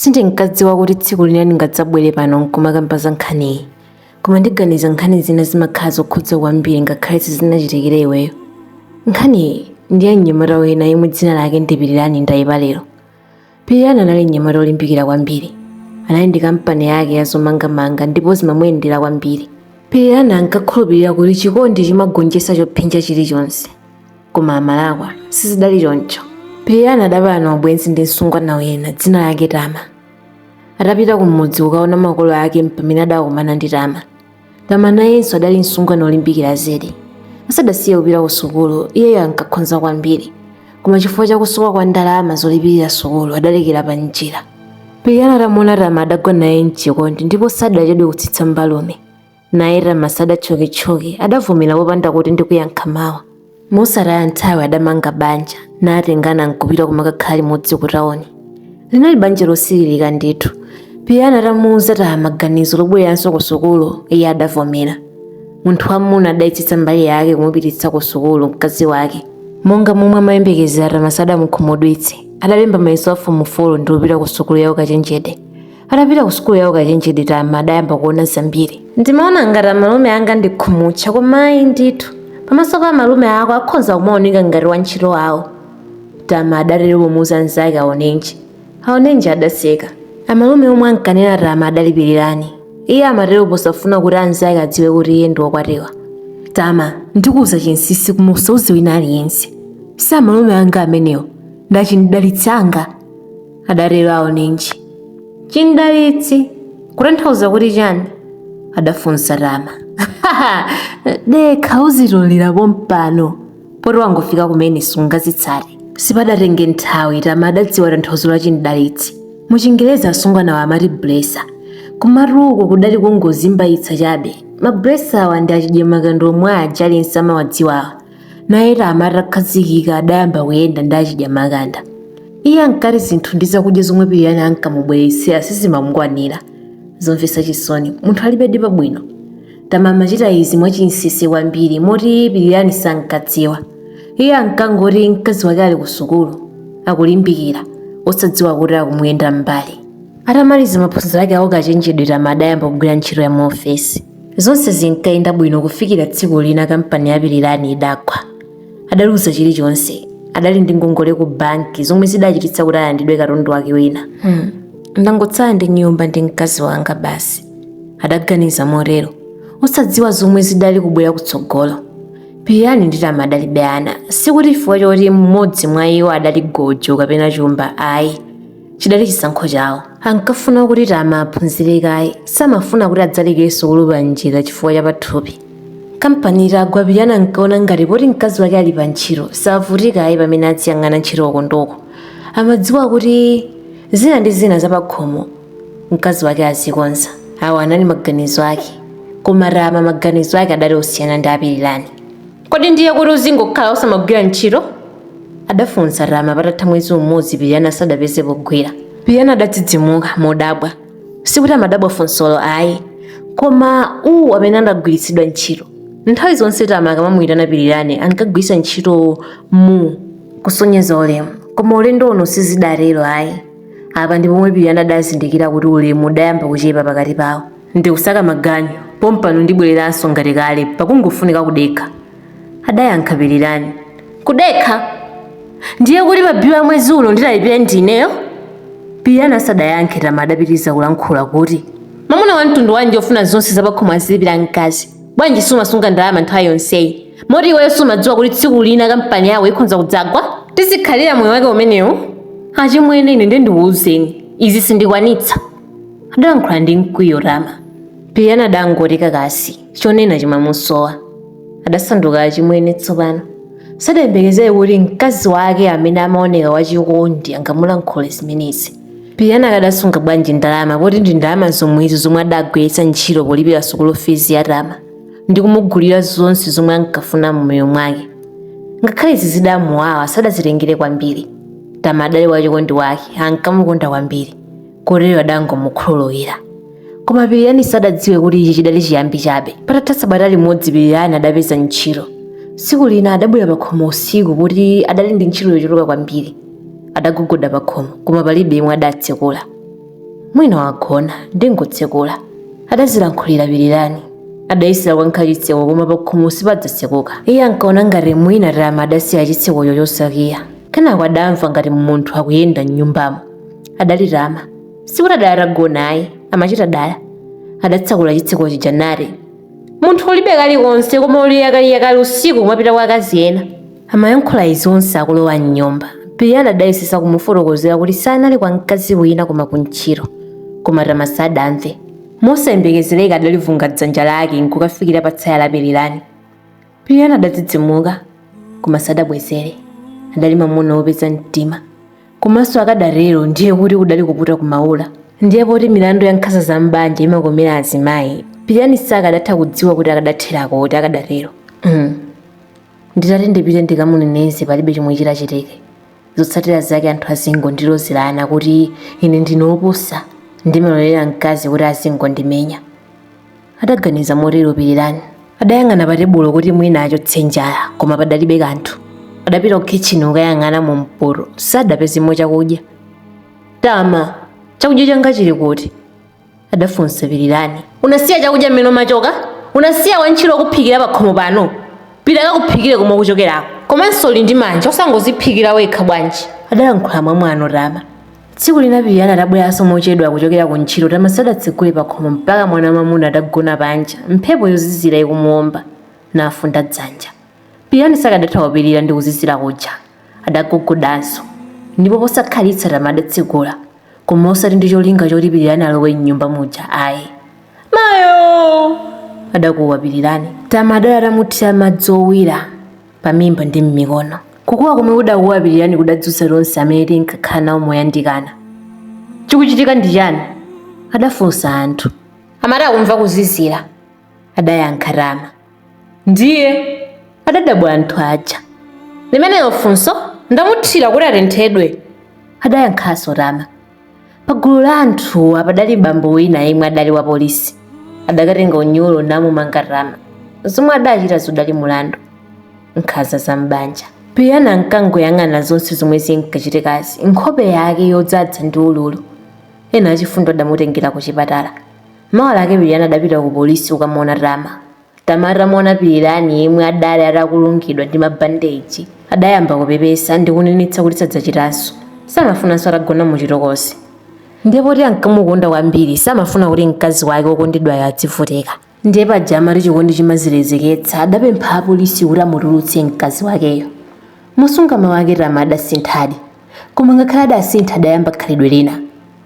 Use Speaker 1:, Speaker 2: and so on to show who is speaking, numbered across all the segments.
Speaker 1: Sindinkadziwa kuti tsiku lina ndingadzabwere pano n'kumakamba za nkhaniyi. Koma ndiganiza nkhani zina zimakhala zokhudza kwambiri ngakhale sizinachitikire iweyo. Nkhaniyi ndi ya mnyamata wina yemwe dzina lake ndi Pirirani Ndayipalero. Pirirani anali mnyamata wolimbikira kwambiri. Anali ndi kampani yake ya zomangamanga ndipo zimamuyendera kwambiri. Pirirani ankakhulupirira kuti chikondi chimagonjetsa chophinja chilichonse. koma amalakwa sizidali choncho pirirani adapalana ubwenzi ndi msungwana wina dzina lake tama atapita kumudzi kukaona makolo ake mpamene adakumana ndi tama tama nayenso adali msungwana olimbikira zedi asadasiye kupita ku sukulu iyeyo ankakhonza kwambiri koma chifukwa chakusowa kwa ndalama zolipirira sukulu adalekera pa njira pirirani atamuona tama adagwa naye mchikondi ndipo sadachedwe kutsitsa mbalume naye tama sadatchoketchoke adavomera popanda kuti ndikuyankha mawa mosataya nthawi adamanga banja natengana nkupita kumakakhala limodzi ku tauni linali banja losiririka ndithu pirirani atamuuza tama ganizo lobwereranso ku sukulu iye adavomera munthu wamuna adayesetsa mbali yake kumupititsa ku sukulu mkazi wake monga momwe amayembekezera tama sadamukhumudwitse adalemba mayeso a fomu 4 ndi kupita ku sukulu ya ukachenjede atapita ku sukulu ya ukachenjede tama adayamba kuona zambiri ndimaona ngati amalume anga ndi khumutcha koma ayi ndithu pamaso pa amalume ako akhoza kumaoneka ngati wantchito awo tama adatero pomuuza anzake aonenji aonenji adaseka amalume omwe ankanena tama adalipirirani iye amatero posafuna kuti anzake adziwe kuti iye ndi wokwatiwa tama ndikuuza chinsisi koma usauze wina aliyense si amalume anga amenewo ndi achimdalitsi anga adatero aonenji chimdalitsi kutanthauza kuti chani adafunsa tama dekha uzitolera pompano poti wangofika kumene sungazitsate sipadatenge nthawi tama adadziwa tanthauzo la chimdalitsi mu chingerezi asungwanawa amati blesa kumatu uku kudali kungozimbayitsa chabe mablesa awa ndi achidyamakanda omwe aja aliyense amawadziwawa naye tama atakhazikika adayamba kuyenda ndi achidyamakanda iye ankati zinthu ndi zakudya zomwe pirirani ankamubweretsera sizimamukwanira zomvetsa chisoni munthu alibedi pabwino tama amachita izi mwachinsisi kwambiri moti pirirani sankadziwa iye ankangoti mkazi wake ali ku sukulu akulimbikira osadziwa kuti akumuyenda m'mbali Atamaliza maphunziro ake a ukachenjede Tama adayamba kugwira ntchito ya muofesi. Zonse zinkayenda bwino kufikira tsiku lina kampani ya Pilirani idagwa. Adaluza chilichonse. Adali ndi ngongole ku banki zomwe zidachititsa kuti alandidwe katundu wake wina. Hmm. Ndangotsala ndi nyumba ndi mkazi wanga basi, adaganiza motero, osadziwa zomwe zidali kubwera kutsogolo. Pilirani ndi Tama adalibe ana, sikuti chifukwa choti mmodzi mwa iwo adali gojo kapena chumba ayi. chidali chisankho chawo ankafuna kuti tama aphunzire kaye samafuna kuti adzaleke sukulu pa njira chifukwa cha pathupi kampani itagwa pirirani ankaona ngati poti mkazi wake ali pa ntchito savutika ayi pamene aziyang'ana ntchito uko ndi uko amadziwa kuti zina ndi zina zapakhomo mkazi wake azikonza awo anali maganizo ake koma tama maganizo ake adali osiyana ndi a pirirani kodi ndiye kuti uzingokhala osamagwira ntchito adafunsa tama patatha mwezi umodzi pirirani asadapeze pogwira pirirani adadzidzimuka modabwa sikuti amadabwa funsolo ayi koma u amene adagwiritsidwa ntchito nthawi zonse tama akamamuyitana pirirani ankagwiritsa ntchito mu kusonyeza ulemu koma ulendo uno sizidatero ayi apa ndi pomwe pirirani adazindikira kuti ulemu udayamba kuchepa pakati pawo Ndikusaka maganyu, pompano ndibwereranso ngati kale, pakungofunika kudekha, adayankha Pilirani. Kudekha? Ndiye kuti mabilu a mwezi uno ndilipire ndi ineyo? Pilirani asadayankhe Tama adapitiriza kulankhula kuti. Mwamuna wa mtundu wanji wofuna zonse zapakhomo azilipira mkazi? Bwanji sumasunga ndalama nthawi yonseyi? Moti iweyo sumadziwa kuti tsiku lina kampani yako ikhonza kudzagwa? Tizikhalira moyo wake umenewu? Achimwene ine ndiye ndikuuzeni, izi sindikwanitsa. adalankhula ndi mkwiyo tama pirirani adangoti kakasi chonena chimamusowa adasanduka achimwene tsopano sadayembekezere kuti mkazi wake amene amaoneka wachikondi angamulankhule zimenezi pirirani akadasunga bwanji ndalama poti ndi ndalama zomwezo zomwe adagwiritsa ntchito polipira sukulu fizi ya tama ndi kumugulira zonse zomwe ankafuna mmoyo mwake ngakhale izi zidamuwawa sadazitengere kwambiri tama adali wachikondi wake ankamukonda kwambiri kotero adangomukhululukira koma pirirani sadadziwe kuti ichi chidali chiyambi chabe patatha sabata limodzi pirirani adapeza ntchito tsiku lina adabwera pakhomo usiku poti adali ndi ntchito yochuluka kwambiri adagogoda pakhomo koma palibe yemwe adatsekula mwina wagona ndingotsekula adazilankhulira pirirani adayesera kukankha chitseko koma pakhomo sipadatsekuke iye ankaona ngati mwina tama adasiya chitsekocho chosakiya kenako adamva ngati munthu akuyenda m'nyumbamo adali tama sikuti adali atagona ayi amachita dala adatsekula chitseko chija nati munthu ulibe kalikonse koma uli yakaliyakali usiku kumapita kwa akazi ena amayankhula izi onse akulowa mnyumba pilirani adayesetsa kumufotokozera kuti sanali kwa mkazi wina koma kuntchito koma tama sadamve mosayembekezereka adalivunga dzanja lake nkukafikira pa tsaya la pilirani pilirani adadzidzimuka koma sadabwezere adali mamuna wopeza mtima komanso akadatero ndiye kuti kudali kuputa kumaula ndiye poti milandu ya nkhanza za mbanja imakomera azimayi pilirani sakadatha kudziwa kuti akadatherako kuti akadatero nditati ndipite ndikamuneneze palibe chomwe chitachitike zotsatira zake anthu azingondilozerana kuti ine ndine wopusa ndimalolera mkazi kuti azingondimenya adaganiza motero pirirani adayang'ana pa tebulo kuti mwina achotse njala koma padalibe kanthu adapita ku kitchen kukayang'ana mu mpoto sadapezemo chakudya tama chakudya changa chili kuti adafunsa pirirani unasiya chakudya mmene umachoka unasiya wantchito wokuphikira pakhomo pano pita akakuphikire komwe ukuchokerako komanso uli ndi manja osangoziphikira wekha bwanji adayankhula mwamwano tama Tsiku lina Pilirani atabweranso mochedwa kuchokera ku ntchito Tama sadatsegule pakhomo mpaka mwana wamwamuna adagona panja, mphepo yozizira ikumuwomba, nafunda dzanja. Pilirani sakadatha kupirira ndi kuzizira kuja. Adagogodanso, ndipo posakhalitsa Tama adatsegula, koma osati ndi cholinga choti Pilirani alowe m'nyumba muja ayi. Mayoo! adakuwa Pilirani. Tama adali atamuthira madzi owira. pamimba ndi m'mikono. Kukuwa komwe kudakuwa Pilirani kudadzutsa tonse amene tinkakhala nawo moyandikana. Chikuchitika ndi chani? adafunsa anthu. Amati akumva kuzizira, adayankha Tama. Ndiye? adadabwa anthu aja. Limenelo funso ndamuthira kuti atenthedwe, adayankhanso Tama. pagulu la anthuwa padali bambo wina yemwe adali wa polisi adakatenga unyolo namumanga tama zomwe adachita zidali mulandu nkhanza za m'banja pilirani ankangoyang'ana zonse zomwe zinkachitikazi nkhope yake yodzadza ndi ululu ena achifundo adamutengera ku chipatala mawa lake pilirani adapita ku polisi kukamuona tama Tama atamuona Pilirani yemwe adali atakulungidwa ndi mabandeji adayamba kupepesa ndi kunenetsa kuti sadzachitanso. Samafunanso atagona muchitokosi. Ndiye poti ankamukonda kwambiri samafuna kuti mkazi wake wokondedwayo adzivutika. Ndiye paja amati chikondi chimazilezeketsa adapempha apolisi kuti amutulutse mkazi wakeyo. Mosunga mawu ake Tama adasinthadi. Koma ngakhale adasintha adayamba khalidwe lina.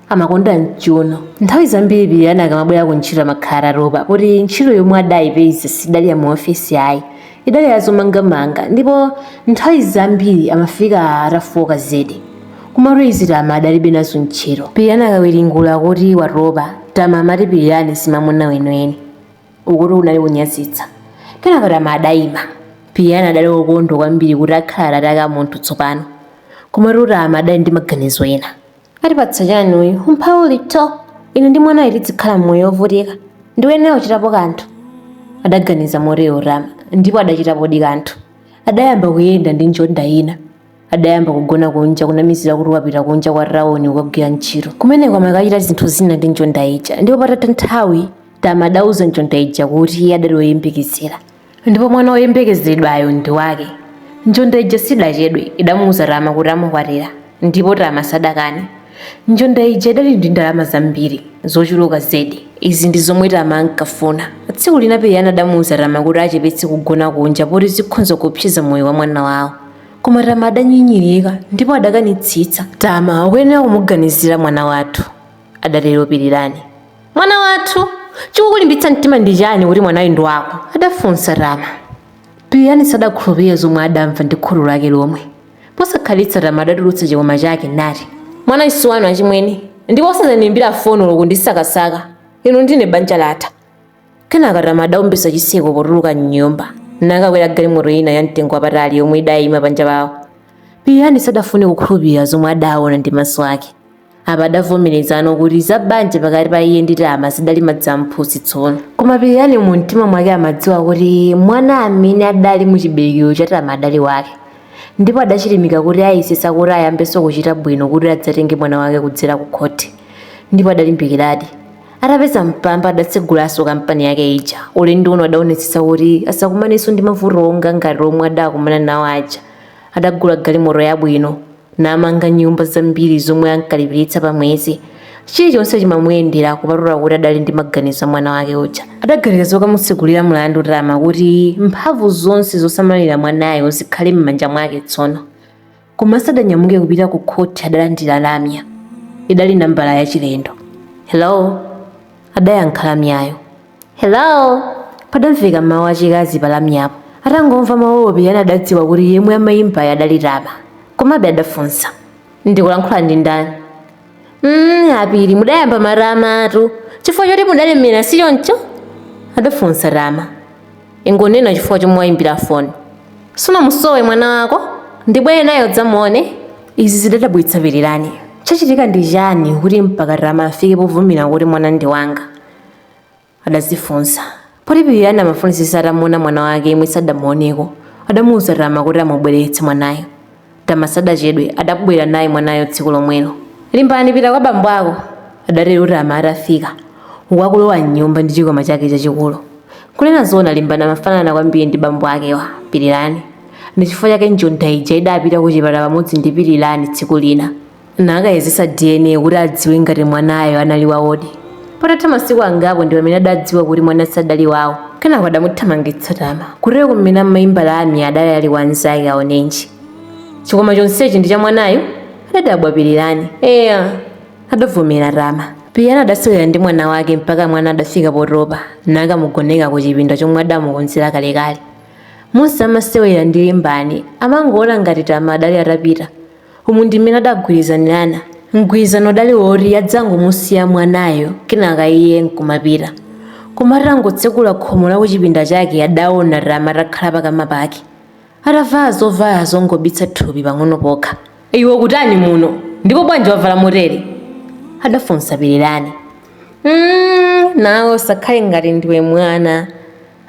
Speaker 1: amakonda mchiuno. Nthawi zambiri pilirani akamabwera ku ntchito amakhala atatopa poti ntchito yomwe adayipeza sidali ya mu ofesi ayi idali ya zomangamanga ndipo nthawi zambiri amafika atafoka zedi komatu izi tama adalibe nazo ntchito pilirani akawiringula kuti watopa tama amati pilirani simamuna weniweni ukutu kunali kunyazitsa kenaka tama adayima pilirani adali wokondwa kwambiri kuti akhala atate ake a munthu tsopano komatu tama adali ndi maganizo ena atipatsa chani uyu umphawitu ine ndi mwanayu tidzikhala mmoyo wovutika ndikuyenera kuchitapo kanthu adaganiza motero tama ndipo adachitapodi kanthu adayamba kuyenda ndi njonda ina adayamba kugona kunja kunamizira kuti wapita kunja kwa tauni kukagwira ntchito kumeneko amakachita zinthu zina ndi njonda ija ndipo patatha nthawi tama adauza njonda ija kuti iye adali woyembekezera ndipo mwana woyembekezeredwayo ndi wake. Njonda ija sidachedwe, idamuuza Tama kuti amukwatira, ndipo Tama sadakane. Njonda ija idali ndi ndalama zambiri, zochuluka zedi. Izi ndi zomwe Tama ankafuna. Tsiku lina Pilirani adamuuza Tama kuti achepetse kugona kunja poti zikhonza kuopseza moyo wa mwana wawo. Koma Tama adanyinyirika ndipo adakanitsitsa. Tama, ukuyenera kumuganizira mwana wathu. adatero Pilirani. Mwana wathu, chikukulimbitsa mtima ndi chani kuti mwanayu ndi wako? adafunsa Tama. Pilirani sadakhulupirire zomwe adamva ndi khutu lake lomwe. Posakhalitsa Tama adatulutsa chikwama chake nati, Mwanayu si wanu achimwene, ndipo osadzandiimbira foni olo kundisakasaka, inu ndine banja latha. Kenaka Tama adaumbisa chiseko potuluka m'nyumba nakakwera galimoto ina ya mtengo wapatali yomwe idayima panja pawo. Pilirani sadafune kukhulupirira zomwe adaona ndi maso ake. apa adavomerezano kuti za banja pakati pa iye ndi tama zidali madzi amphutsi tsono koma pilirani mu mtima mwake amadziwa kuti mwana amene adali mu chiberekero cha tama adali wake ndipo adachilimika kuti ayesesa kuti ayambenso kuchita bwino kuti adzatenge mwana wake kudzera ku khoti ndipo adalimbikiradi atapeza mpamba adatsegulanso kampani yake ija ulendo uno adaonetsetsa kuti asakumanenso ndi mavuto onga ngati omwe adakumana nawo aja adagula galimoto yabwino namanga nyumba zambiri zomwe ankalipiritsa pa mwezi. Chilichonse chimamuyendera kupatula kuti adali ndi maganizo a mwana wake uja. Adaganiza zokamutsegulira mlandu Tama kuti mphamvu zonse zosamalira mwanayo zikhale m'manja mwake tsono. Koma asadanyamuke kupita ku khoti adalandira lamya. Idali nambala yachilendo. Hello? Adayankha lamyayo. hello padamveka mawu achikazi palamyapo atangomva mawuwo pilirani adadziwa kuti yemwe amayimbayo adali tama komabe adafunsa ndikulankhula ndi ndani mm, a pili mudayamba matamatu chifukwa choti mudalemera si choncho adafunsa tama ingonena chifukwa chomwe wayimbira foni sunamusowe mwana wako ndibwere naye udzamuone izi zidadabwitsa pilirani chachitika ndi chani kuti mpaka tama afike povomera kuti mwana ndi wanga adadzifunsa. Poti Pilirani amafunisisa atamuona mwana wake yemwe sadamuoneko, adamuuza Tama kuti amubweretse mwanayo. Tama sadachedwe adabwera naye mwanayo tsiku lomwelo. Limbani pita kwa bambo ako, adatero Tama atafika, uku akulowa m'nyumba ndi chikwama chake chachikulu. Kunena zoona Limbani amafanana kwambiri ndi bambo akewa, Pilirani. Ndi chifukwa chake njonda ija idapita kuchipatala pamodzi ndi Pilirani tsiku lina. nakayezetsa dna kuti adziwe ngati mwanayo anali wawodi patatha masiku angapo ndi pamene adadziwa kuti mwana sadali wawo kenako adamuthamangitsa tama kutero kumene amaimba lamya adali ali wanzake aonenji chikwama chonsechi ndi cha mwanayo adadabwa pilirani eya adavomera tama pilirani adasewera ndi mwana wake mpaka mwana adafika potopa nakamugoneka ku chipinda chomwe adamukonzera kalekale monse amasewera ndi limbani amangoona ngati tama adali atapita Umu ndi mmene adagwirizanirana. Mgwirizano udali woti adzangomusiya mwanayo kenaka iye nkumapita. Koma atangotsekula khomo la kuchipinda chake adaona Tama atakhala pakama pake. Atavala zovala zongobitsa thupi pang'ono pokha. Iwe ukutani muno? Ndipo bwanji wavala motere? Adafunsa Pilirani. Umm, nawe usakhale ngati ndiwe mwana.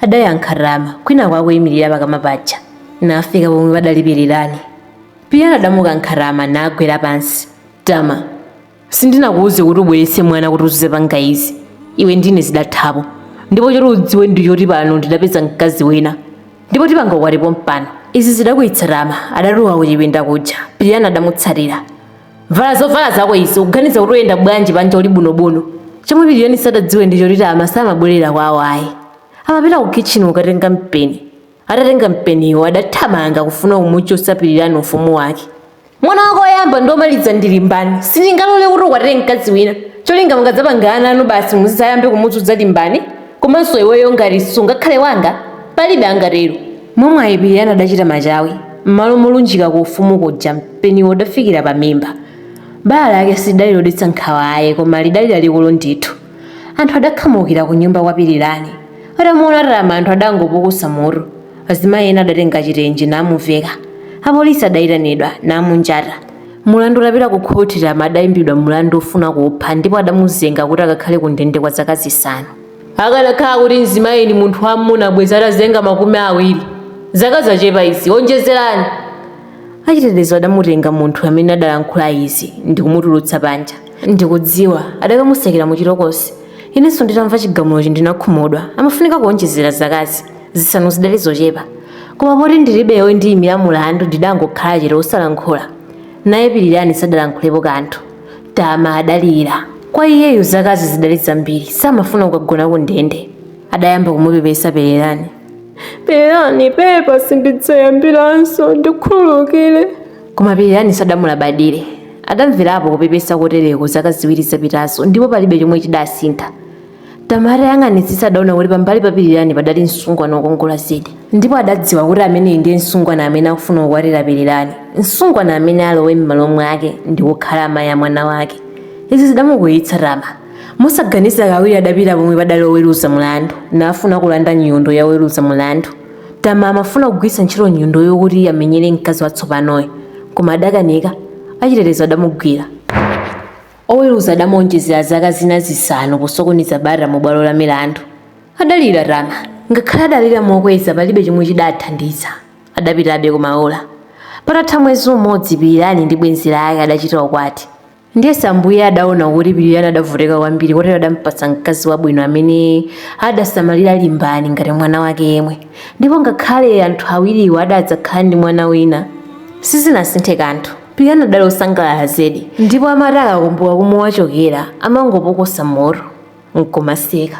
Speaker 1: adayankha Tama kwinaku akuyimirira pakama paja nafika pomwe padali pilirani pilirani adamukankha tama nagwera pansi tama sindinakuwuze kuti ubweretse mwana kuti uzidzapanga izi iwe ndine zidathapo ndipo choti udziwe ndi choti pano ndidapeza mkazi wina ndipo tipanga ukwati pompano izi zidakwiyitsa Tama adatuluka kuchipinda kuja pilirani adamutsatira vala zovala zako izi ukuganiza kuti uyenda bwanji panja uli bunobuno chomwe pilirani sadadziwe ndi choti tama samabwerera kwawo ayi amapita ku kitchen kukatenga mpeni atatenga mpeniwo adathamanga kufuna kumuchotsa pilirani ufumu wake mwana wako oyamba ndi omaliza ndi limbani sindingalole kuti ukwatire mkazi wina cholinga mukadzapanga ana anu basi mudzayambe kumuzunza limbani komanso iweyo ngati sungakhale wanga palibe angatero Mwamwayi, Pilirani adachita machawi, mmalo molunjika ku ufumu kuja mpeniwo udafikira pamimba. Bala lake silidali lodetsa nkhawa ayi, koma lidali lalikulu ndithu. Anthu adakhamukira kunyumba kwa Pilirani. Atamuona Tama anthu adangopukusa mutu. Azimayi ena adatenga chitenje namuveka. Apolisi adaitanidwa, namunjata. Mulandu utapita ku khoti, Tama adaimbidwa mulandu wofuna kupha ndipo adamuzenga kuti akakhale kundende kwa zaka zisanu. Akanakhala kuti mzimayi ndi munthu wa mmuna bwezi atazenga makumi awiri. Zaka zachepa izi. Wonjezerani. Achitetezo adamutenga munthu amene adalankhula izi ndikumutulutsa panja. Ndikudziwa adakamutsekera mu chitokosi. Inenso nditamva chigamulochi ndinakhumudwa. Amafunika kuonjezera zakazi. Zisanu zidali zochepa. Koma poti ndilibe wondiyimira mulandu ndidangokhala chete osalankhula. Naye Pilirani sadalankhulepo kanthu. Tama adalira. Kwa iyeyo zakazi zidali zambiri, samafuna kukagona ku ndende. Adayamba kumupepesa Pilirani. Pilirani, pepa sindidzayambiranso, ndikhululukire. Koma Pilirani sadamulabadire. Adamverapo kupepesa kotereko zaka ziwiri zapitazo ndipo palibe chomwe chidasintha. tama atayang'anitsitsa adaona kuti pambali pa pilirani padali msungwana wokongola zedi ndipo adadziwa kuti ameneyi ndiye msungwana amene akufuna kukwatira pilirani msungwana amene alowe m'malo mwake ndi kukhala amayi a mwana wake izi zidamukwiyitsa tama mosaganiza kawiri adapita pomwe padali oweruza mulandu nafuna kulanda nyundo ya oweruza mulandu tama amafuna kugwiritsa ntchito nyundoyo kuti amenyere mkazi watsopanoyo koma adakanika achitetezo adamugwira Oweruza adamuonjezera zaka zina zisanu posokoneza bata mu bwalo la milandu. Adalira Tama. Ngakhale adalira mokweza palibe chomwe chidathandiza. Adapitabe ku maula. Patatha mwezi umodzi Pilirani ndi bwenzi lake adachita ukwati. Ndiyesa Ambuye adaona kuti Pilirani adavutika kwambiri kotero adampatsa mkazi wabwino amene adasamalira Limbani ngati mwana wake yemwe. Ndipo ngakhale anthu awiriwa adadzakhala ndi mwana wina, sizinasinthe kanthu. pilirani adali osangalala zedi ndipo amati akakumbuka komwe wachokera amangopukusa mutu nkumaseka